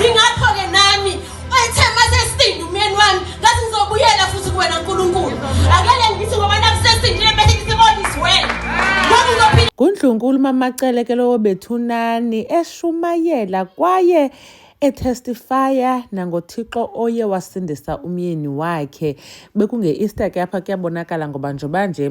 Ingakho-ke nami ethe masesindi umyeni wami ngathi ngizobuyela futhi kuwena Nkulunkulu. Akele ngithi ngoba nakusesindile bese ngithi kodwa isiwena. Ngoba uzophila Kundlunkulu mamacele ke lowo bethunani eshumayela kwaye etestifaya nangothixo oye wasindisa umyeni wakhe bekunge-easter ke apha kuyabonakala ngoba njengoba nje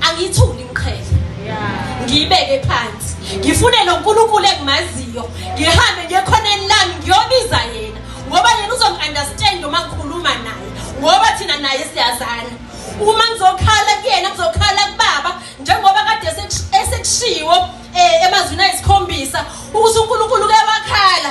angiyithuli imqhele ngiyibeke phansi ngifunele uNkulunkulu engimaziyo ngihambe ngekhoneni lami ngiyobiza yena ngoba yena uzongi-understand uma ngikhuluma naye ngoba thina naye siyazana uma ngizokhala kuyena ngizokhala kubaba njengoba kade esekushiwo um emazwini ayisikhombisa ukuthi unkulunkulu kuyabakhala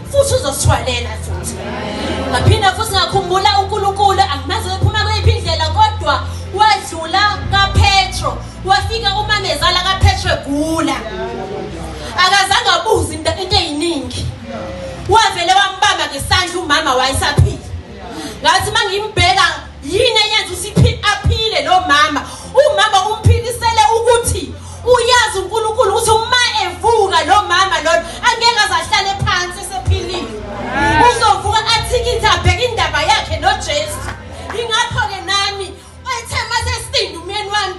futhi uzosithwalela futhi ngaphinda futhi ngakhumbula uNkulunkulu angimazi ephuma kweyiphi indlela kodwa wadlula kaPetro wafika umamezala kaPetro egula akazange abuze into eyiningi wavele wambamba ngesandla umama wayesaphila ngathi mangimbheka Yini eyenza usiphi aphile lo mama? Umama umphikisele ukuthi uyazi uNkulunkulu ukuthi uma evuka lo mama lona angeke azahlale phansi esephilile. Uzovuka athikithe abheke indaba yakhe noJesu. Ingakho ke nami ethe mase sidinda umyeni wami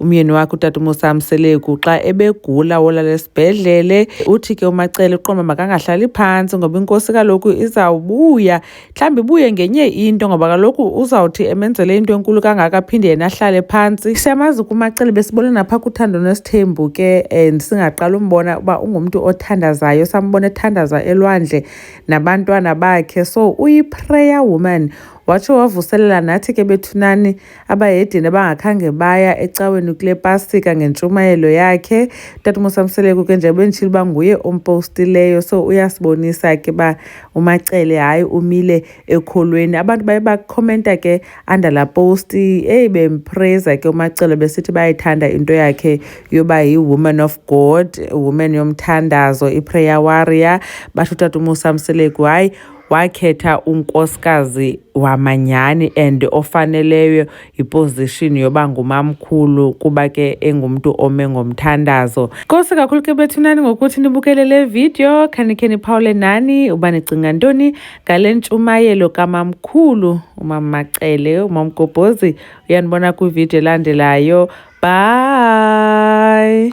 Umyeni wakhe utata umusa mseleku xa ebegula wolala esibhedlele uthi ke umacele uqoma makangahlali phantsi ngoba inkosi kaloku izawubuya mhlawumbi ibuye ngenye into ngoba kaloku uzawuthi emenzele into enkulu kangaka aphinde yena ahlale phantsi siyamazi kumacele besibona napha kuthando nesithembu ke and singaqala umbona uba ungumntu othandazayo sambona ethandaza elwandle nabantwana bakhe so uyiprayer woman watsho wavuselela nathi ke bethunani Abayedeni abangakhange baya ecaweni kule pasika ngentshumayelo yakhe Tata Musa Mseleku ke njengoba endishilo uba nguye ompostileyo so uyasibonisa ke uba uMacele hayi umile ekholweni abantu baye bakhomenta ke under la post eyi bempraise ke uMacele besithi bayayithanda into yakhe yoba yi-woman of God woman yomthandazo i-prayer warrior batho Tata Musa Mseleku hayi wakhetha unkosikazi wamanyani and ofaneleyo iposition yoba ngumamkhulu kuba ke engumntu ome ngomthandazo nkosi kakhulu ke bethunani ngokuthi nibukele le video khanikhe niphawule nani uba nicinga ntoni ngale ntshumayelo kamamkhulu umamacele umamgobhozi uyanibona kwividiyo elandelayo bye